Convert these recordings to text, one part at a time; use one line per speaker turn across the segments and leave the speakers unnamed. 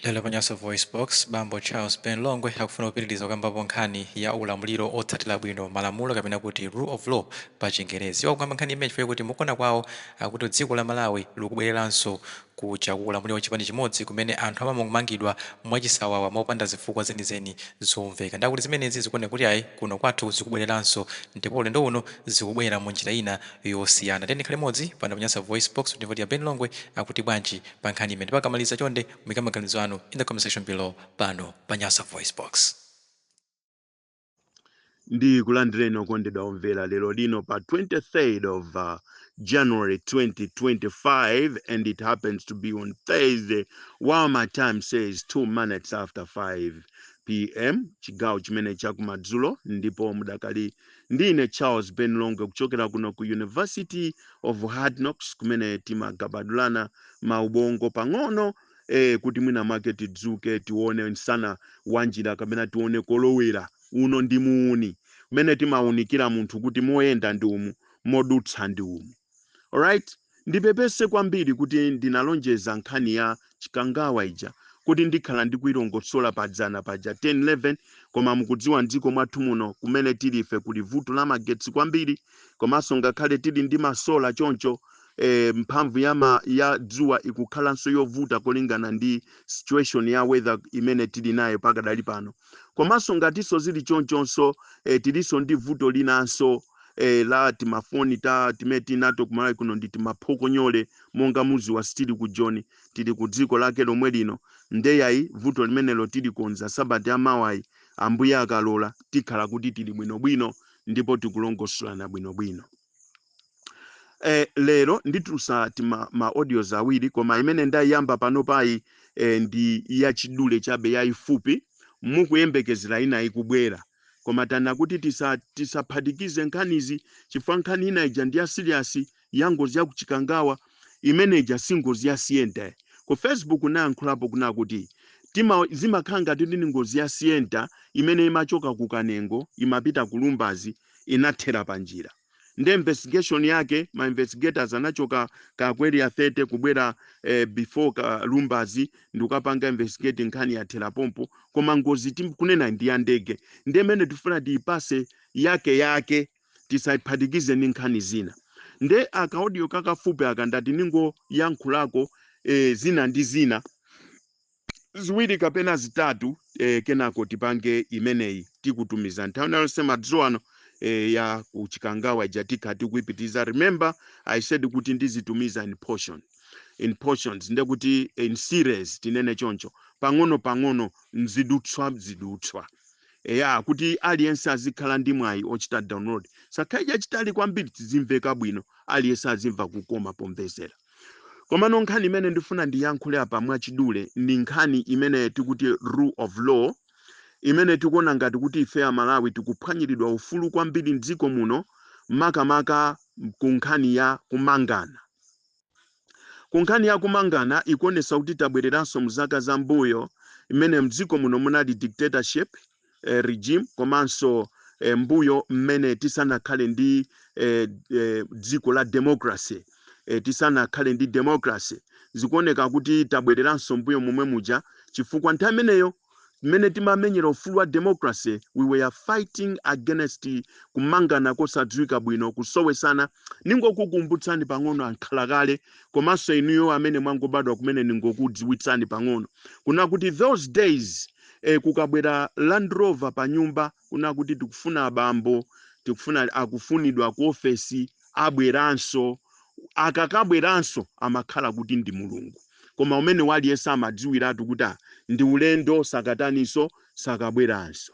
Lero pa Nyasa VoiceBox, bambo Charles Ben Longwe akufuna kupitiliza kukambapo nkhani ya ulamuliro otsatila bwino malamulo kapena kuti rule of law pa chingerezi. Iwo akukamba nkhani imeneyi chifukwa chakuti mukuona kwawo akuti dziko la Malawi likubwelelanso kuja ku ulamuliro wa chipani chimodzi kumene anthu amamangidwa mwachisawawa mopanda zifukwa zenizeni zomveka. Ndiye akuti zimenezi zikuoneka kuti ayi kuno kwathu zikubwelelanso ndipo ulendo uno zikubwela munjira ina yosiyana. Tiyeni tikhale limodzi pano pa Nyasa VoiceBox kuti timve kuti a Ben Longwe akuti bwanji pa nkhani imeneyi ndipo akamaliza chonde muyike maganizo anu in the comment section below pano pa nyasa voice
box ndikulandireni okondedwa omvera lero lino pa 23rd of uh, january 2025 and it happens to be on thursday while my time says 2 minutes after 5 pm chigawo chimene chakumadzulo ndipo mudakali Ndi ine Charles Ben Longwe kuchokera kuno ku University of Hard Knocks kumene timagabadulana maubongo pang'ono eh, kuti mwina mwake tidzuke tione msana wa njira kapena tione kolowera. Uno ndi muuni umene timaunikira munthu kuti moyenda ndi umu, modutsa ndi umu. alright ndipepese kwambiri kuti ndinalonjeza nkhani ya chikangawa ija kuti ndikhala ndikuilongosola padzana paja 10 11 koma mukudziwa mdziko mwathu muno kumene tili ife kuli vuto la magetsi kwambiri komanso ngakhale tili ndi masola choncho eh, mphamvu ya, ma, ya dzuwa ikukhalanso yovuta kolingana ndi situation ya weather imene tili nayo pakadali pano Komanso ngatinso zili chonchonso, eh, tilinso ndi vuto linanso, eh, la timafoni ta timene tili nato ku Malawi kuno ndi timaphokonyole monga mudziwa sitili ku Joni, tili ku dziko lake lomwe lino. Nde yayi vuto limenelo tilikonza sabata yamawayi Ambuye akalola tikhala kuti tili bwinobwino ndipo tikulongosolana bwinobwino. eh, lero nditulusa tima ma audios awiri koma imene ndayiyamba panopayi eh, ndi yachidule chabe yayifupi mukuyembekezera ina ikubwera koma taona kuti tisa- tisaphatikize nkhanizi chifukwa nkhani ina ija ndi ya serious ya ngozi ya kuchikangawa imene ija si ngozi ya sienta ku facebook nayankhulapo kunena kuti tima zimakhala ngati ndi ngozi ya sienta imene imachoka ku kanengo imapita ku lumbadzi inathera panjira nde investigation yake ma investigators anachoka ka ku area 30 kubwera eh, before ka lumbadzi ndikukapanga investigate nkhani yathera pompo koma ngozi tikunenayi ndi ya ndege nde imene tifuna tiyipase yake yake tisayiphatikize ndi nkhani zina nde akaodiyo kakafupi aka ndati ningoyankhulako eh, zina ndi zina ziwiri kapena zitatu e, kenako tipange imeneyi tikutumiza nthawi nayonse madzulo ano e, ya ku Chikangawa ija tikha tikuipitiza remember i said kuti ndizitumiza in portion in portions nde kuti in series tinene choncho pang'ono pang'ono mzidutswa mzidutswa eya kuti aliyense azikhala ndi mwayi ochita download sakhale chachitali kwambiri tizimveka bwino aliyense azimva kukoma pomvesera Komano nkhani imene ndifuna ndiyankhule apa mwachidule ndi nkhani imene tikuti rule of law imene tikuona ngati kuti ife Amalawi tikuphwanyiridwa ufulu kwambiri m'dziko muno makamaka ku nkhani ya kumangana. Ku nkhani ya kumangana ikuonetsa kuti tabwereranso mzaka za mbuyo imene m'dziko muno munali dictatorship eh, regime komanso eh, mbuyo mmene tisanakhale ndi eh, eh, dziko la democracy eh, tisanakhale ndi democracy zikuoneka kuti tabwereranso mbuyo momwe muja chifukwa nthawi imeneyo mmene timamenyera ufulu wa democracy we were fighting against kumangana kosadziwika bwino kusowesana ningokukumbutsani pang'ono ankhala kale komanso inuyo amene mwangobadwa kumene ningokudziwitsani pang'ono kuna kuti those days e, kukabwera Land Rover pa nyumba kuna kuti tikufuna abambo, tikufuna akufunidwa ku ofesi, abweranso. Akakabweranso amakhala kuti ndi Mulungu. Koma umene waliyense amadziwiratu kuti ah, ndi ulendo sakataninso sakabweranso.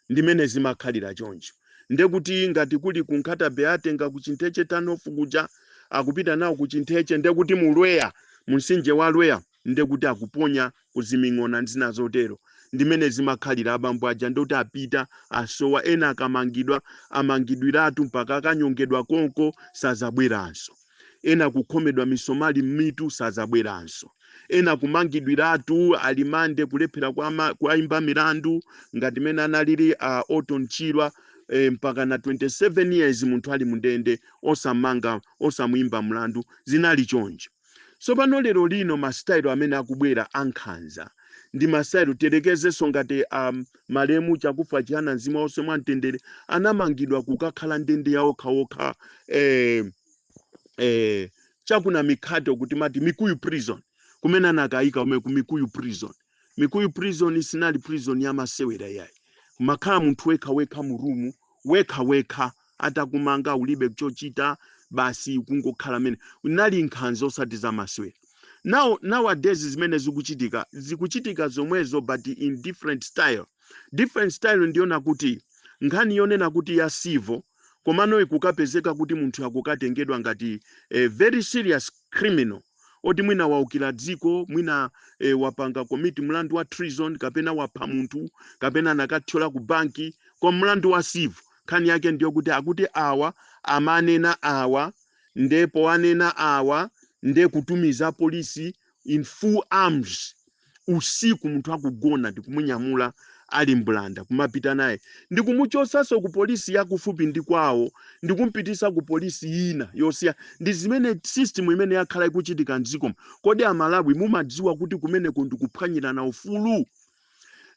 Ndi mmene zimakhalira choncho. Nde kuti ngati kuli ku Nkhata Bay atenga ku Chintheche Turn-off kuja akupita nawo ku Chintheche nde kuti mu Lweya, mu mtsinje wa Lweya nde kuti akuponya ku ziming'ona ndi zina zotero. Ndi mmene zimakhalira abambo aja nde kuti apita asowa ena akamangidwa amangidwiratu mpaka akanyongedwa konko sazabweranso. Ena kukhomedwa misomali mmitu sazabweranso. Ena kumangidwiratu a remand kulephera kuwama, kuwaimba milandu ngati mmene analili a Orton Chirwa eh, mpaka na 27 years munthu ali mu ndende osamanga osamuimba mlandu zinali choncho. Tsopano, lero lino, masitayiro amene akubwera a nkhanza, ndi masitayiro, tiyerekezenso ngati a, malemu Chakufwa Chihana, mzimu wawo uuse mwa mtendere, anamangidwa kukakhala ndende ya okha okha, eh, eh, cha ku Namikhate uku timati Mikuyu Prison, kumene anakaika kumene ku Mikuyu Prison. mikuyu prison sinali prison ya masewera yayi kumakhala munthu wekha wekha mu room wekha wekha atakumanga ulibe chochita basi kungokhala imene inali nkhanza osati za masewera now nowadays zimene zikuchitika zikuchitika zomwezo but in different style different style ndi yonena kuti nkhani yonena kuti ya civil komano ikukapezeka kuti munthu akukatengedwa ngati a very serious criminal oti mwina waukira dziko mwina e, wapanga commit mlandu wa treason kapena wapha munthu kapena anakathyola ku banki kwa mlandu wa civil nkhani yake ndiyo kuti akuti awa amanena awa ndipo anena awa nde kutumiza polisi in full arms usiku munthu akugona ndikumunyamula ali mbulanda kumapita naye ndikumuchotsanso ku polisi yakufupi ndi kwawo ndikumpititsa ku polisi ina yosiya ndi zimene system imene yakhala ikuchitika mdziko kodi amalawi mumadziwa kuti kumeneko ndikuphwanyirana ufulu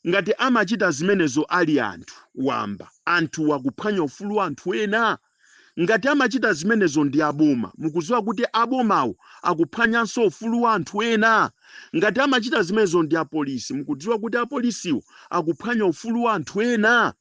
ngati amachita zimenezo ali anthu wamba anthu wakuphwanya ufulu wa anthu ena Ngati amachita zimenezo ndi aboma, mukudziwa kuti abomawo akuphwanyanso ufulu wa anthu ena? Ngati amachita zimenezo ndi apolisi, mukudziwa kuti apolisiwo akuphwanya ufulu wa anthu ena?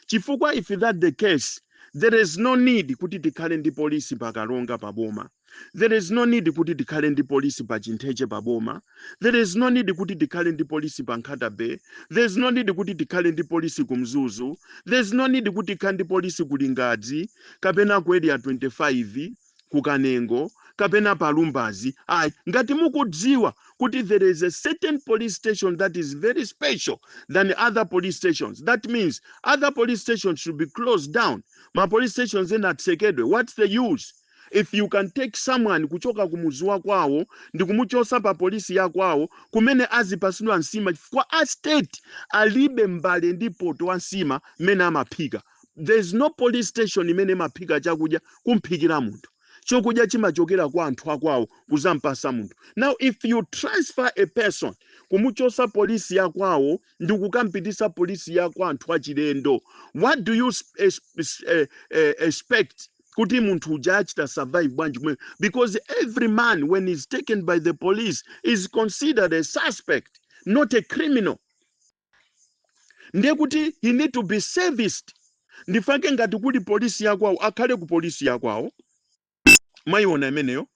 Chifukwa if that the case, there is no need kuti tikhale ndi polisi pa Karonga pa boma. There is no need kuti tikhale ndi polisi pa Chintheche pa boma. There is no need kuti tikhale ndi polisi pa Nkhata Bay. There is no need kuti tikhale ndi polisi ku Mzuzu. There is no need kuti tikhale ndi polisi ku Lingadzi kapena ku Area 25 ku Kanengo kapena pa Lumbadzi. Ayi, ngati mukudziwa kuti there is a certain police station that is very special than other police stations. That means other police stations should be closed down. Ma police stations ena atsekedwe. What's the use? If you can take someone kuchoka ku muzi wa kwawo ndikumuchosa pa polisi ya kwawo kumene azipasidwa nsima chifukwa a state alibe mbale ndi poto wa nsima amene amaphika. There is no police station imene imaphika chakudya kumphikira munthu. Chokudya chimachokera kwa anthu akwawo kuzampasa munthu. Now if you transfer a person kumuchosa polisi ya kwawo ndikukampitisa polisi ya kwa anthu achilendo, what do you sp- es- es- eh, eh, expect kuti munthu uja achita survive bwanji kumene because every man when he's taken by the police is considered a suspect not a criminal ndiye kuti he need to be serviced ndifake ngati kuli polisi yakwawo akhale ku polisi yakwawo mwayiona imeneyo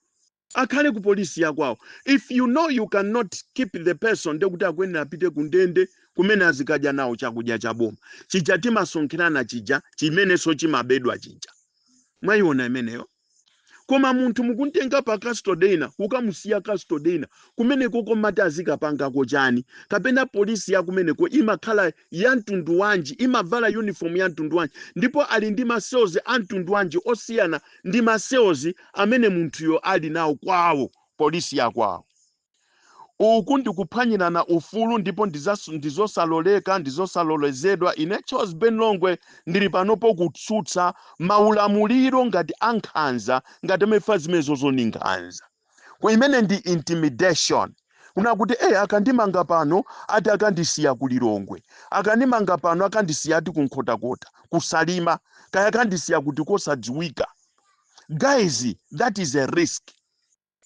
Akhale ku polisi ya kwawo. If you know you can not keep the person ndiye kuti akuyenera apite ku ndende kumene azikadya nawo chakudya cha boma. Chija timasonkhera na chija chimenenso chimabedwa chija. Mwayiona imeneyo? Koma munthu mukumtenga pa custody ina kukamusiya custody ina kumenekoko mmati azikapangako chani? Kapena polisi ya kumeneko imakhala ya mtundu wanji? Imavala uniform ya mtundu wanji? Ndipo ali ndi ma cells a mtundu wanji osiyana ndi ma cells amene munthuyo ali nawo kwawo, police ya kwawo. Uku ndi kuphwanyirana ufulu ndipo ndi zosaloleka, ndi zosalolezedwa. Ine Charles Ben Longwe ndili panopo kutsutsa maulamuliro ngati a nkhanza ngati amene fa zimenezozo ndi nkhanza. Ku- imene ndi intimidation kuna kuti e akandimanga pano ati akandisiya ku lilongwe akandimanga pano akandisiya ati ku nkhotakota kusalima kaya akandisiya kuti kosadziwika guys that is a risk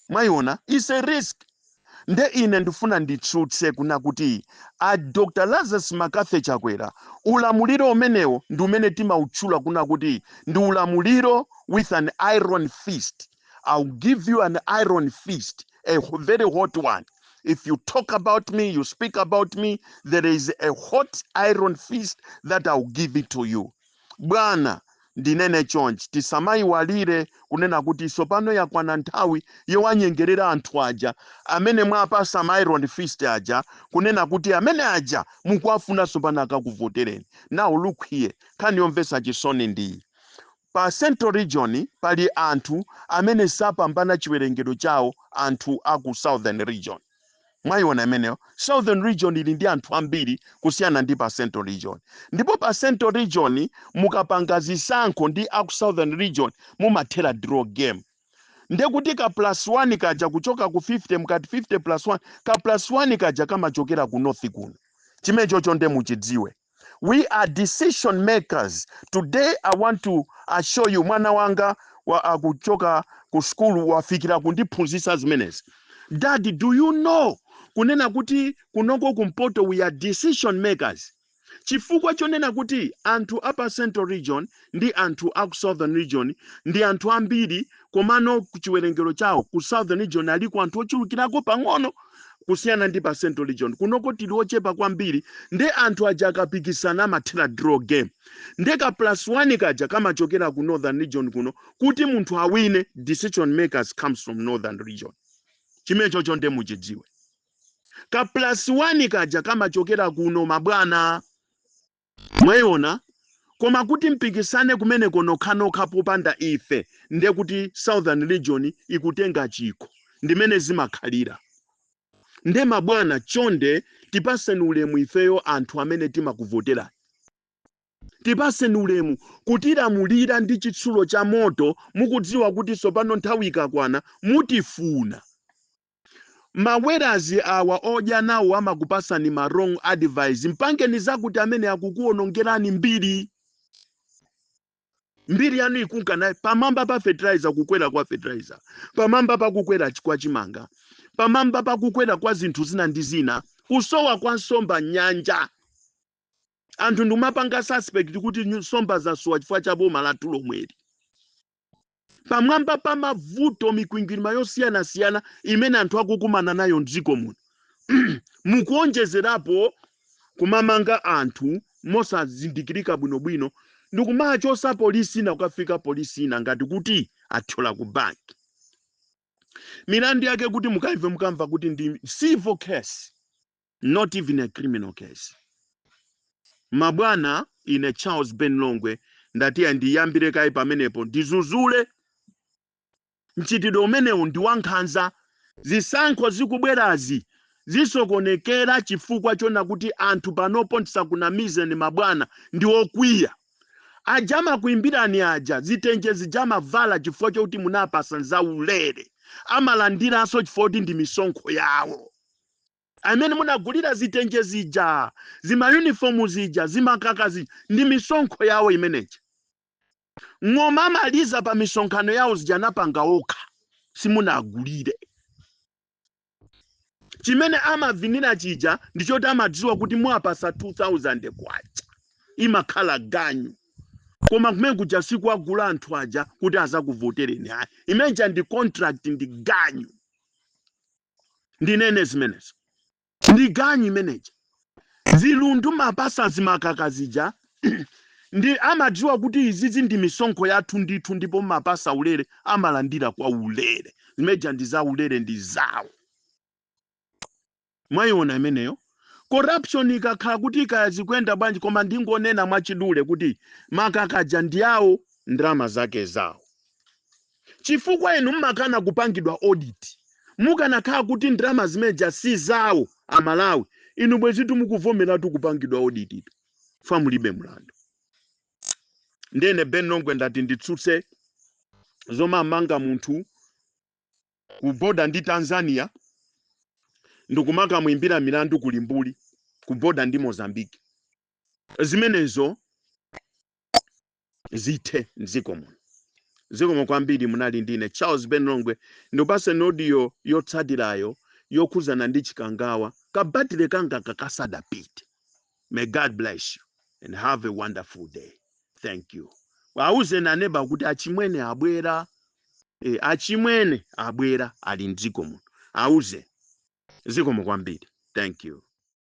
mwayiona is a risk nde ine ndifuna nditsutse kuna kuti a dr lazarus McCarthy chakwera ulamuliro umenewo ndi umene timautchula kuna kuti ndi ulamuliro with an iron fist I'll give you an iron fist, a h- very hot one. If you talk about me, you speak about me, there is a hot iron fist that I'll give it to you. Bwana, ndinene chonchi tisamaiwalire kunena kuti tsopano yakwana nthawi yowanyengerera anthu aja amene mwapasa ma iron fist aja kunena kuti amene aja mukuwafuna tsopano akakuvotereni. Now look here, nkhani yomvetsa chisoni ndiyi Pa Central Region pali anthu amene sapambana chiwerengero chawo anthu a ku Southern Region. Mwaiona imeneyo? Southern Region ili ndi anthu ambiri kusiyana ndi pa Central Region. Ndipo pa Central Region mukapanga zisankho ndi a ku Southern Region mumathera draw game. Ndiye kuti ka plus one kaja kuchoka ku 50 mukati 50 plus one, ka plus one kaja kamachokera ku North kuno. Chimenechocho ndiye muchidziwe. We are decision makers. Today I want to assure you mwana wanga akuchoka ku sukulu wafikira kundiphunzitsa zimenezi. Daddy, do you know kunena kuti kunoko kumpoto we are decision makers. Chifukwa chonena kuti anthu a pa Central Region ndi anthu aku southern region ndi anthu ambiri komano kuchiwerengero chawo ku southern region aliko anthu ochulukirako pang'ono kusiyana ndi pa central region kunoko tili ochepa kwambiri nde anthu aja akapikisana amathera draw game nde ka plus one kaja kamachokera ku northern region kuno kuti munthu awine decision makers comes from northern region chimenechocho nde muchidziwe ka plus one kaja kamachokera kuno mabwana Mwayiona? Koma kuti mpikisane kumeneko nokhanokha popanda ife nde kuti southern region ikutenga chikho. Ndimene zimakhalira. Nde mabwana chonde tipatseni ulemu ifeyo anthu amene timakuvoterani. Tipatseni ulemu. Kutilamulira ndi chitsulo cha moto mukudziwa kuti tsopano nthawi ikakwana mutifuna. Mawerazi awa odya nawo amakupasani ma wrong advice mpangeni zakuti amene akukuonongerani mbiri mbiri yanu ikunka naye pamwamba pa fertilizer kukwera kwa fertilizer pamwamba pa kukwera ch- kwa chimanga pamwamba pa kukwera kwa zinthu zina ndi zina kusowa kwa nsomba nyanja anthu ndimapanga suspect kuti nyu- nsomba zasowa chifukwa cha boma lathu lomweli pamwamba pa mavuto mikwingwirima yosiyanasiyana imene anthu akukumana nayo mdziko muno mukuonjezerapo kumamanga anthu mosazindikirika bwinobwino ndikumawachosa polisi ina kukafika polisi ina ngati kuti athyola ku banki milandu yake kuti mukaimve mukamva kuti ndi civil case not even a criminal case mabwana ine charles ben longwe ndati andiyambire kaye pamenepo ndizuzule mchitidwe umenewu ndi wankhanza zisankho zikubwerazi zisokonekera chifukwa chona kuti anthu panopo ndisakunamizeni mabwana ndi okwiya aja amakuimbirani aja zitenje zija amavala chifukwa chokuti munapasa nzaulere amalandiranso chifukwa kuti ndi misonkho yawo imene munagulira zitenje zija, zima uniform zija, zimakaka zija, ndi misonkho yawo imeneja. Ng'oma amaliza pa misonkhano yanu zija anapanga okha, simunagulire. Chimene amavinira chija ndi choti amadziwa kuti muwapasa 2000 kwacha imakhala ganyu. Koma kumene kuja sikuwagula anthu aja kuti azakuvotereni hayi. Imeneja ndi contract ndi ganyu. ndinene zimenezo. Ndi ganyu imeneja. Zilundu mapasa zimakaka zija ndi amadziwa kuti izizi ndi misonkho yathu ndithu ndipo mapasa ulere amalandira kwa ulere. Zimeneja ndi za ulere ndi zawo. Mwaiona imeneyo? Corruption ikakhala kuti kaya zikuyenda bwanji koma ndingonena mwachidule kuti makaka aja ndi awo ndalama zake zawo. chifukwa inu mmakana kupangidwa audit. Mukanakhala kuti ndalama zimeneja si zawo a Malawi, inu bwezitu mukuvomeratu kupangidwa audit tu chifukwa mulibe mlandu. Ndiye ine Ben Longwe ndati nditsutse zomamanga munthu ku border ndi Tanzania ndikumakamuimbira milandu ku Limbuli ku border ndi Mozambique. Zimenezo zithe mdziko muno zikomo kwambiri munali ndine charles ben longwe ndipase audio yotsatirayo yokhuzana ndi chikangawa kabatire kanga kakasadapite may god bless you and have a wonderful day thank you awuzeni aneba kuti achimwene abwera achimwene abwera ali mdziko muno auze zikomo kwambiri thank you